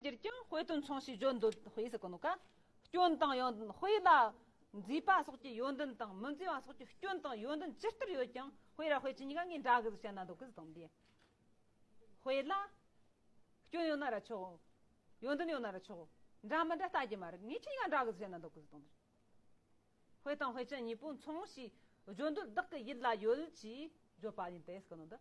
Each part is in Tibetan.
སྤྱིར་བཏང་དཔེ་དོན་མཚུངས་ཞེས་བརྗོད་འདོད་དཔེ་ཟེར་གོ་ནོ་ཀ། སྐྱོན་དང་ཡོན་ཏན་དཔེ་ལ་མཛེས་པ་སོགས་ཀྱི་ཡོན་ཏན་དང་མི་མཛེས་པ་སོགས་ཀྱི་སྐྱོན་དང་ཡོན་ཏན་ཇི་ལྟར་ཡོད་ཀྱང་དཔེ་ར་དཔེ་ཅི་གཉིས་ཀ་ངའི་འདྲ་གི་ཟེར་ན་འདོད་གི་དོན་དེ། དཔེ་ལ་སྐྱོན་ཡོད་ན་ར་ཆོག་ཡོན་ཏན་ཡོད་ན་ར་ཆོག་འདྲ་མི་འདྲ་ལྟ་རྒྱུ་མ་རེད་ངའི་ཅི་གཉིས་ཀ་འདྲ་གི་ཟེར་ན་འདོད་གི་དོན་དེ། དཔེ་དང་དཔེ་ཅན་གཉིས་པོ་མཚུངས་ཞེས་བརྗོད་འདོད་བདག་གི་ཡིད་ལ་ཡོད་ཅེས་བརྗོད་པ་ཡིན་ཏེ་ཟེར་གི་ནོ་ད།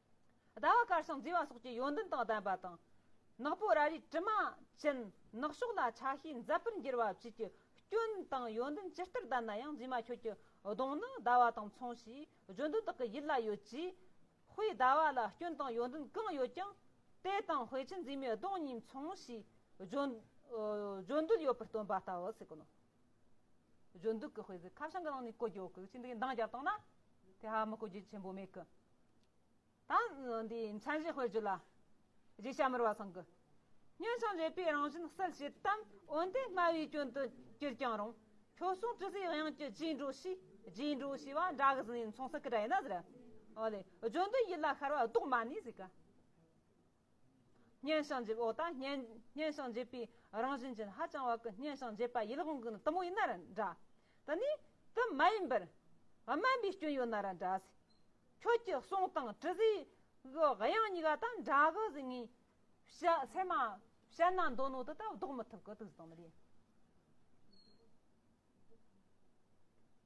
ཟླ་བ་གར་སོང་རྫིས་བ་སོགས་ཀྱི་ཡོན་ཏན་དང་ལྡན་པ་དང། ནག་པོ་ར་རིའི་དྲི་མ་ཅན་ནག་ཕྱོགས་ལ་ཆ་ཤས་མཛད་པར་འགྱུར་བ་བཅས་ཀྱི་སྐྱོན་དང་ཡོན་ཏན་ཇི་ལྟར་ལྡན་ན་ཡང་རྫིས་མ་ཁྱོད་ཀྱི་གདོང་ནི་ཟླ་བ་དང་མཚུངས་ཞེས་བརྗོད་འདོད་དག་གི་ཡིད་ལ་ཡོད་ཀྱི། དཔེའི་ཟླ་བ་ལ་སྐྱོན་དང་ཡོན་ཏན་གང་ཡོད་ཀྱང་དེ་དང་དཔེ་ཆའི་རྫིས་མའི་གདོང་གཉིས་མཚུངས་ཞེས་བརྗོད་འདོད་ཡོད་པར་སྟོན་པ་ལྟ་བུ་ཟེར་གི་ནོ། གཞོན་དུག་གི་དཔེ་ཟིག་ཁ་བྱང་གི་ནང་ནས་བཀོད་རྒྱུ་གི་ཅི་འདི་མདངས་བསྐྱར་བཏང་ན་དེ་ཧ་མི་བཀོད་རྒྱུ་ཆེན་པོ་མེད་གི། ད་འདི་མཚན་གཞི་སྤེལ་རྒྱུ་ལ། རྗེ་ཞྭ་མོར་བ་ཚང་གི། སྙན་ཞིང་འཇེབས་པའི་རང་བཞིན་གསལ་བྱེད་དམ་འོན་ཏེ་སྨྲ་བའི་སྐྱོན་དུ་གྱུར་ཀྱང་རུང་ཁྱོད་གསུང་ཅི་ཟེར་དབྱངས་ཀྱི་རྗེས་འགྲོ་ཞེས་རྗེས་འགྲོ་ཞེས་པ་འདྲ་གཟིགས་ནས་མཚུངས་ས་ཀི་དྲ་ཡིན་ན་ཟེར། ཨོ་ལེ་གཞོན་དུག་ཡིད་ལ་ཤར་བ་དོག་མ་ནས་ཟིག་གི། སྙན་ཞིང་འཇེབས་འོག་དང་སྙན་སྙན་ཞིང་འཇེབས་པའི་རང་བཞིན་ཅན་ཧ་ཅང་བར་གྱི་སྙན་ཞིང་འཇེབས་པ་ཡིད་དབང་གི་ནི་དུམ་བུ་ཡིན་ན་ར་འདྲ། དེ་ནི་དུམ་མ་ཡིན་པར། དམན་པའི་སྐྱོན་ཡོད་ན་ར་འདྲ། ཁྱོད་ཀྱི་གསུང་དང་དྲི་ཟའི་གི་དབྱངས་གཉིས་ཀ་དང་འདྲ་གི་གཟིགས་ངེས། བཤད་ཚད་མ་བཤད་ན་འདོད་ནོ་དེ་ལྟར་བཟློག་མི་ཐུབ་ཀི་དུག་གཟིགས་དང་མི་ལས།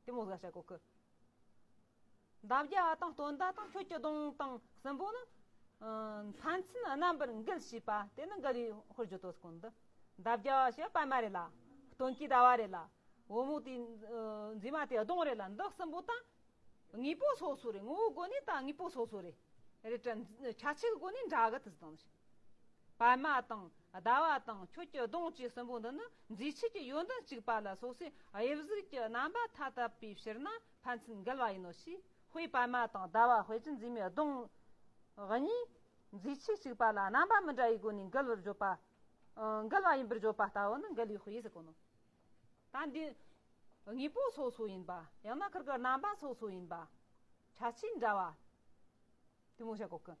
གཏི་མུག་ཟ་བྱ་གོ་ཁུ། འདབ་བརྒྱ་དང་སྟོང་བརྡ་དང་ཁྱོད་ཀྱི་གདོང་དང་སྲིན་པོ་ནི། ཕན་ཚུན་རྣམ་པར་འགུལ་བྱེད་པ་དེ་ནི་འགལ་བའི་ཧོར་རྒྱུ་དོ་ཀུན་འདི། འདབ་བརྒྱ་ཞེས་པད་མ་རེད་ལ། སྟོན་གྱི་ཟླ་བ་རེད་ལ། འོད་མུག་དེ་འཛིན་མ་དེ་གདོང་རེད་ལ་འདི་སྲིན་པོ་དང། དངོས་པོ་སོ་སོ་རེད་ངོ་བོའི་སྒོ་ནས་དང་དངོས་པོ་སོ་སོ་རེད། ཁྱད་ཆོས་ཀྱི་སྒོ་ནས་འདྲ་གི་དེ་དང། པད་མ་དང་ཟླ་བ་དང་ཁྱོད་ཀྱི་གདོང་བཅས་སྲིན་པོ་འདི་ནི། འཛིན་བྱེད་ཀྱི་ཡོན་ཏན་གཅིག་པ་ལ་སོགས་སའི་དབྱིབས་གཟུགས་ཀྱི་རྣམ་པ་མཐའ་དག་པའི་ཕྱིར་ན་ཕན་ཚུན་འགལ་བ་ཡིན་ནོ་ཞེས་དཔེའི་པད་མ་དང་ཟླ་བ་དཔེ་ཀྱི་འཛིན་མའི་གདོང། གཉིས། འཛིན་བྱེད་གཅིག་པ་ལ་རྣམ་པ་མི་འདྲ་བའི་སྒོ་ནས་འགལ་བར་བརྗོད་པ། འགལ་བ་ཡིན་པར་བརྗོད་པ་ལྟ་བུ་ནི་འགལ་བའི་དབྱེ་བསལ་ཀུན། ད་འདི་དངོས་པོ་སོ་སོ་ཡིན་པ་ཡང་ན་ཁིར་ཀི་རྣམ་པ་སོ་སོ་ཡིན་པ། ཆ་ཆེའི་འདྲ་བ། དེ་མོ་བྱ་གོ་ཀུན།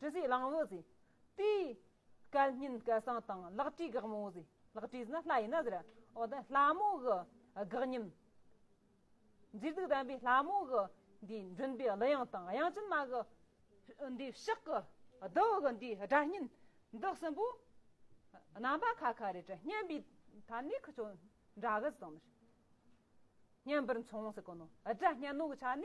དྲི་ཟའི་གླང་བོ་ཟེར། དེའི། སྐལ་སྙིང་སྐལ་བཟང་དང་ལག་བྲིས་དགག་མོ་ཟེར། ལག་བྲིས་ཟེར་ན་ལྷ་ཡིན་ན་ཟེར། འོ་ན་ལྷ་མོ་གི་དགག་མཉམ། མཛེས་སྡུག་ལྡན་པའི་ལྷ་མོ་གི། འདིའི་མགྲིན་པའི་གླུ་དབྱངས་དང་དབྱངས་ཅན་མ་གི། འདིའི་ཕྱག་གི་རྡོ་གི་འདིའི་སྒྲ་སྙན། འདི་གསུམ་པོ། རྣམ་པ་ཁ་ཁ་རེ་རེ་སྙན་པའི་ཐ་ནི་ཁུ་ཅོ་འདྲ་གི་ཟེར། སྙན་པར་མཚུངས་ཟེར་གོ་ནོ། སྒྲ་སྙན་ནོ་གི་ཆ་ནས།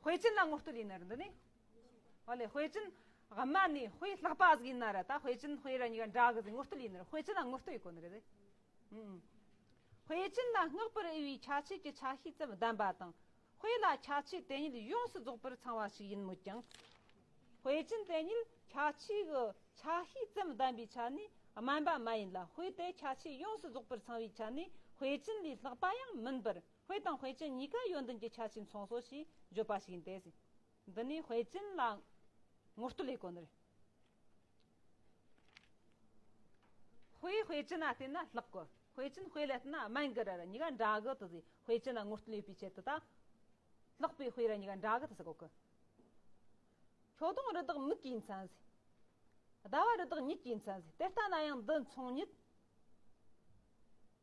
དཔེ་ཅན་ལ་ངོ་བསྟོད་ཡིན་ནི་རེད་འདུག་ཨོ་ལེ་དཔེ་ཅན་ཝང་མ་ནི་དཔེ་ལྷག་པ་ཟིག་ཡིན་ན་རེད་ད་དཔེ་ཅན་དཔེ་ར་གཉིས་ཀ་འདྲ་གི་ཟིག་ངོ་བསྟོད་ཡིན་ནི་རེད་དཔེ་ཅན་ལ་ངོ་བསྟོད་ཡི་གོ་ནི་རེད་དེ་དཔེ་ཅན་ལ་བསྔགས་པར་འོས་པའི་ཆ་བྱད་ཀྱི་ཆ་ཤས་ཙམ་ལྡན་པ་དང་དཔེ་ལ་ཆ་བྱད་དེ་ཉིད་ཡོངས་སུ་རྫོགས་པར་ཚང་བ་ཞིག་ཡིན་མོད་ཀྱང། དཔེ་ཅན་དེ་ཉིད་ཆ་བྱད་ཀྱི་ཆ་ཤས་ཙམ་ལྡན་པའི་ཆ་ནི་དམན་པ་མ་ཡིན་ལ་དཔེ་དེ་ཆ་བྱད་ཡོངས་སུ་རྫོགས་པར་ཚང་བའི་ཆ་ནི་དཔེ་ཅན་ལས་ལྷག་པ་ཡང་མིན་པར་བྷེ་དང་བྷེ་ཅིན་གཉིས་ཀ་ཡོན་ཏན་གྱི་ཆ་བྱིན་ཚོང་ཟོག་ཞེས་བརྗོད་པ་ཞིག་ཡིན་ཏེ། འདི་ནི་བྷེ་ཅིན་ལ་ངོ་བསྟོད་ལས་གོ་ནི་བྷེ་བྷེ་ཅིན་ལ་བསྟེན་ན་ལྷག་གོ་བྷེ་ཅིན་བྷེ་ལ་བསྟེན་ན་དམན་གི་ར་ར་གཉིས་ཀ་འདྲ་གི་དུ་ཟེར་བྷེ་ཅིན་ལ་ངོ་བསྟོད་ཡོད་པའི་ཆེད་དུ་ད་ལྷག་བྷེ་བྷེ་ར་གཉིས་ཀ་འདྲ་གི་དུ་ཟེར་གོ་གི། ཁྱོ་དང་རི་དྭགས་མིག་གིས་མཚན་ཟེར། ཟླ་བ་རི་དྭགས་མྱིག་གིས་མཚན་ཟེར་དེ་ལྟ་ན་ཡང་འདི་མཚུངས་ཉིད།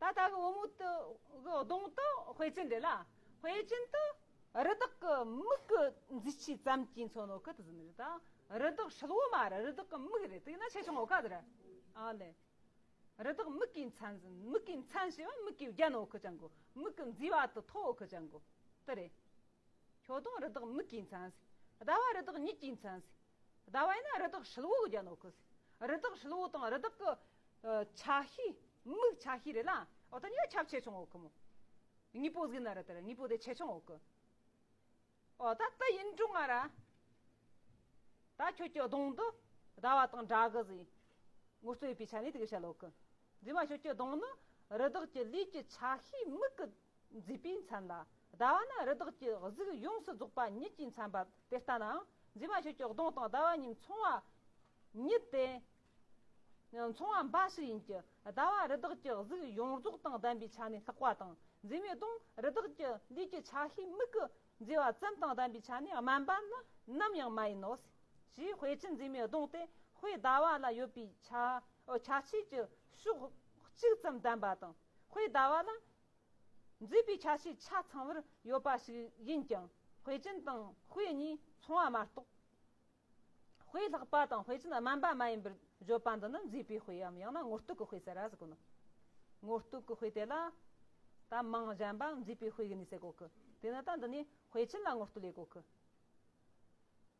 ད་ལྟ་གི་བུ་མོ་དེ་གི་གདོང་དུ་དཔེ་ཅི་འདྲེ་ལ། དཔེ་ཅན་དུ། རི་དྭགས་ཀྱི་མིག་གི་མཛེས་ཆས་ཙམ་གྱིས་མཚོན་ནོ་ཀི་ཏི་ཟིན་རི་དང་རི་དྭགས་ཧྲིལ་བོ་མ་རེད་རི་དྭགས་ཀྱི་མིག་རེད་དེ་ཡིན་ན་ཆེ་ཆུང་ཨོ་ཀ་ཏི་རེད། ཨ་ལེ། རི་དྭགས་མིག་གི་མཚན་ཟིན་མིག་གི་མཚན་ཞེས་པ་མིག་གི་རྒྱན་ཨོ་ཀི་ཅང་གོ་མིག་གི་མཛེས་པ་དུ་ཐོག་ཨོ་ཀི་ཅང་གོ་ཏི་རེད། ཁྱོད་དང་རི་དྭགས་མིག་གི་མཚན་ཟིན་ཟླ་བ་རི་དྭགས་ཉིད་ཀྱི་མཚན་ཟིན། ཟླ་བ་ཡིན་ན་རི་དྭགས་ཧྲིལ་བོ་གི་རྒྱ་ནོར་ཁུལ། རི་དྭགས་ཧྲིལ་བོ་དང་རི་དྭགས་ཀྱི་ཆ་ཤས། མིག་ཆ་ཤས་རེད་ལ། འོ་ད་ཉིད་ཁྱབ་ཆེ་ཆུང་འོག་གི་མོ། དངོས་པོ་གཟིགས་ན་རི་དྭགས་དངོས་པོ་དེ་ཆེ་ཆུང་འོག་གི། འོ་ད་དེ་ཡིན་དྲུག་ང་ར། ད་ཁྱོད་ཀྱི་གདོང་དུ་ཟླ་བ་དང་དགྲ་གི་གཟིགས། ངོ་སྤྲོད་པའི་ཆ་ནས་དེ་ག་བྱ་ལོག་གི། རྫུན་མ་ཁྱོད་ཀྱི་གདོང་ནི་རི་དྭགས་ཀྱི་ལུས་ཀྱི་ཆ་ཤས་མིག་གི། མཛེས་པའི་མཚན་ལ་ཟླ་བ་ནི་རི་དྭགས་ཀྱི་གཟུགས་ཡོངས་སུ་རྫོགས་པ་ཉིད་ཀྱི་མཚན་པ་དེ་ལྟ་ནའང་མཛེས་མ་ཁྱོད་ཀྱི་གདོང་དང་ཟླ་བ་གཉིས་མཚུངས་བ་ཉིད་དེ། མཚུངས་བ་འབའ་ཞིག་ཡིན་གྱི་ཟླ་བ་རི་དྭགས་ཀྱི་གཟུགས་ཡོངས་རྫོགས་དང་ལྡན་པའི་ཆ་ནས་ལྷག་པ་དང་མཛེས་མའི་གདོང་རི་དྭགས་ཀྱི་ལུས་ཀྱི་ཆ་ཤས་མིག་གི་མཛེས་པ་ཙམ་དང་ལྡན་པའི་ཆ་ནས་དམན་པ་ནི་ནམ་ཡང་མ་ཡིན་ནོ། ཞེས་དཔེ་ཀྱི་མཛེས་མའི་གདོང་སྟེ་དཔེའི་ཟླ་བ་ལ་ཡོད་པའི་ཆ་ཤས་ཀྱི་ཕྱོགས་གཅིག་ཙམ་ལྡན་པ་དང་དཔེའི་ཟླ་བ་ལ་འཛིན་པའི་ཆ་ཤས་ཆ་ཚང་བར་ཡོད་པ་ཞིག་ཡིན་ཀྱང་དཔེ་ཅན་དང་དཔེ་གཉིས་མཚུངས་བ་མ་གཏོགས། དཔེ་ལྷག་པ་དང་དཔེ་ཅན་དམན་པ་མ་ཡིན་པར་བརྗོད་པ་འདི་ནི་འཛིན་པའི་དཔེའམ་ཡང་ན་དངོས་རྟོག་གི་དཔེ་ཟེར་ར་ཟེར་དགོས་ནོ། དངོས་རྟོག་གི་དཔེ་དེ་ལ་ད་མང་གཞན་པའམ་འཛིན་པའི་དཔེ་གཉིས་ཟེར་དགོས་ཀི་དེ་ནི་ད་འདི་ནི་དཔེ་ཅན་ལ་དངོས་རྟོག་ལས་དགོས་ཀི།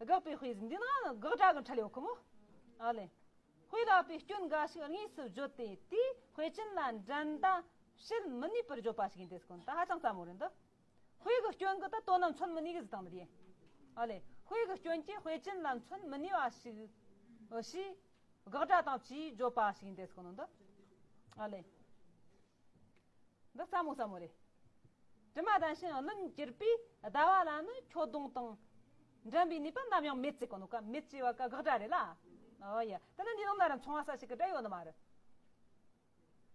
དགག་པའི་དཔེ་འདི་ནི་དགག་སྒྲ་གི་འཕྲལ་ཡོད་ཀྱི་མོད། ཨ་ལས། དཔེ་བཀླག་པའི་སྐྱོན་འགའ་ཞིག་དངོས་སུ་བརྗོད་དེ་དེའི་དཔེ་ཅན་ལ་འགྲན་ཟླ་བྱེད་མི་ནུས་པར་བརྗོད་པ་ཞིག་ཡིན་དེ་སྐོར་དང་ཧ་ཅང་རྩ་མོ་རེད་འདི། དཔེ་གི་སྐྱོན་གྱི་དོན་ལ་མཚོན་མི་ནུས་ཀྱི་གཟིགས་སྟངས་འདི་རེད། ཨ་ལས། དཔེ་གི་སྐྱོན་གྱིས་དཔེ་ཅན་ལ་མཚོན་མི་ནུས་པ་ཞིག་ཞེས་དགག་སྒྲ་དང་བཅས་བརྗོད་པ་ཞིག་ཡིན་དེ་སྐོར་འདི། ཨ་ལས། འདི་ཟབ་མོ་ཟབ་མོ་རེད། དྲི་མ་དང་ཤིང་རླུང་གྱུར་པའི་ཟླ་བ་ལ་ནི་ཁྱོ་གདུང་དང་འགྲན་པའི་ནུས་པ་ནམ་ཡང་མེད་ཅེས་གོ་ནོ་ག་མེད་ཅེས་བ་ག་དགག་སྒྲ་རེད་ལ། ཨོ་ཡ། དེ་ནི་འདི་ནང་ན་རང་མཚུངས་བ་ས་ཞིག་གི་སྒྲ་ཡོད་ནི་མ་རེད།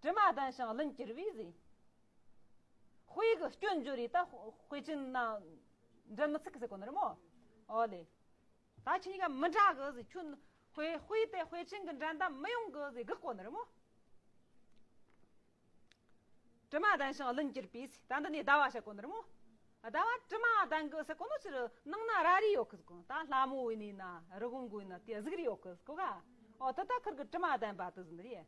དྲི་མ་དང་ཤིང་རླུང་གྱུར་པའི་གཟི། དཔེ་གི་སྐྱོན་བརྗོད་རེད་ད་དཔེ་ཅན་ན་འགྲན་མི་ཚུགས་ཀི་ཟེར་གོ་ནོ་རེད་མོ། ཨོ་ལེ། ད་ཕྱིན་ཡང་མི་འདྲ་གི་ཟེ་ཁྱོད་དཔེ་དཔེ་དེ་དཔེ་ཆེན་གི་འགྲན་ཟླ་མི་ཡོང་གི་ཟེ་གི་གོ་ནི་རི་མོ། དྲི་མ་ལྡན་ཞིང་ལུན་གྱིར་པས་ད་འདི་ནས་ཟླ་བ་ཞེས་གོ་ནི་རི་མོ། ཟླ་བ་དྲི་མ་ལྡན་གི་ཟེ་གོ་ནི་ཕྱི་རུ་ནང་ན་ར་རི་ཡོད་གི་ཟེ་གོ་ད་ལྷ་མོ་བའི་ནས་ན་རི་བོང་གོའི་ནི་དེ་གཟུགས་རི་ཡོད་གི་ཟེ་གོ་ག་ཨོ་ད་ད་ཁུར་གི་དྲི་མ་ལྡན་པ་དི་ཟི་ནི་རེད།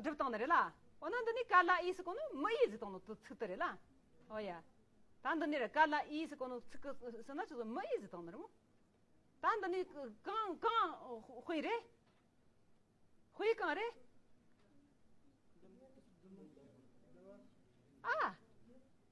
སྒྲུབ་སྟངས་ནི་རེད་ལ། འོ་ན་འདི་ནི་ཀཱི་ལ་ཨིས་གོ་ནི་མི་ཡི་གཟིགས་སྟངས་ནི་ཚིག་ཏུ་རེད་ལ། འོ་ཡ། ད་འདི་ནི་རེད་ཀཱི་ལ་ཨིས་གོ་ནི་ཚིག་ཟེར་ན་ཅི་ཟེར་མི་ཡི་གཟིགས་སྟངས་ནི་རེད་མོད། ད་འདི་ནི་གང་གང་དཔེ་རེད། དཔེ་གང་རེད། ཨ།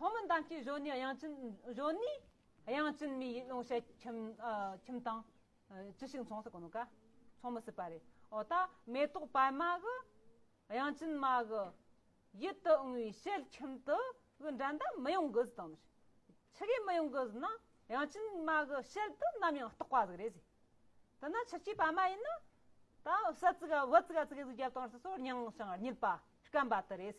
ཐོག་མའི་གདམས་ཀྱི་གཞོན་ནུའི་དབྱངས་ཅན་གཞོན་ནུའི་དབྱངས་ཅན་མི་ཡི་ཀློང་ཞལ་ཁྱིམ་དང། ཅི་ཞིག་མཚུངས་སུ་གོ་ནོ་ཀ། མཚུངས་མི་སྲིད་པ་རེད། འོ་ད་མེ་ཏོག་པད་མ་གི་དབྱངས་ཅན་མ་གི་ཡིད་དུ་འོང་བའི་ཞལ་ཁྱིམ་དུ་གི་འགྲན་ཟླ་མི་ཡོང་གི་དང། ཕྱི་གའི་མི་ཡོང་གི་ན་དབྱངས་ཅན་མ་གི་ཞལ་དུ་ནམ་ཡང་རྟོག་པ་ཟིག་རེད། འདི་ན་ཕྱི་གཅིག་པད་མ་ཡིན་ན་ད་བྱ་ཙི་ག་བུ་ཙི་ག་ཙི་ག་ཟིག་བརྒྱབ་དང་སོ་སོར་མྱང་ཞིང་བསྙིལ་པ་སྐམ་པ་དེ་རེད།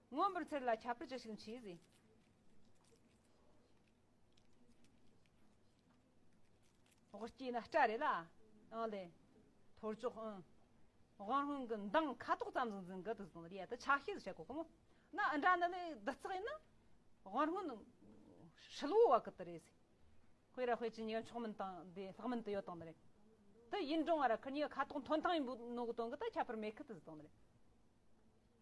མངོན་པར་འཚེར་ལ་ཁྱབ་པར་ཅི་ཞིག་མཆིས། དབུ་སྐྱེས་ན་སྐྲ་རེ་ལ་ཨང་ལས། ཐོར་ཅོག་ཨང། དབང་རང་གི་མདངས་ཁ་དོག་ཙམ་ཟིང་ཟིང་གི་དུ་ཟིང་ལ་ཡད་དུ་ཆ་ཤས་སུ་བྱེད་དགོས་ཀི་མོ། ན་ཨི་འདྲ་ནི་ལས་བདུད་རྩི་ཡིན་ན། དབང་རང་ནི་ཧྲིལ་བོ་བ་ཀི་དུ་རེད། དཔེ་ར་དཔེ་ཅི་ཉེར་མཆོག་མིན་དང་དེ་ལྷག་མིན་དུ་ཡོད་དང་ནི་རེད། དུ་ཡིན་འབྲོང་བ་ར་ཁི་ཉི་ཁ་དོག་མཐོན་ཐང་ཡིན་པོ་ནོ་གི་དོན་གི་དུ་ཁྱབ་པར་མེད་ཀི་དུ་ཟིང་ལ།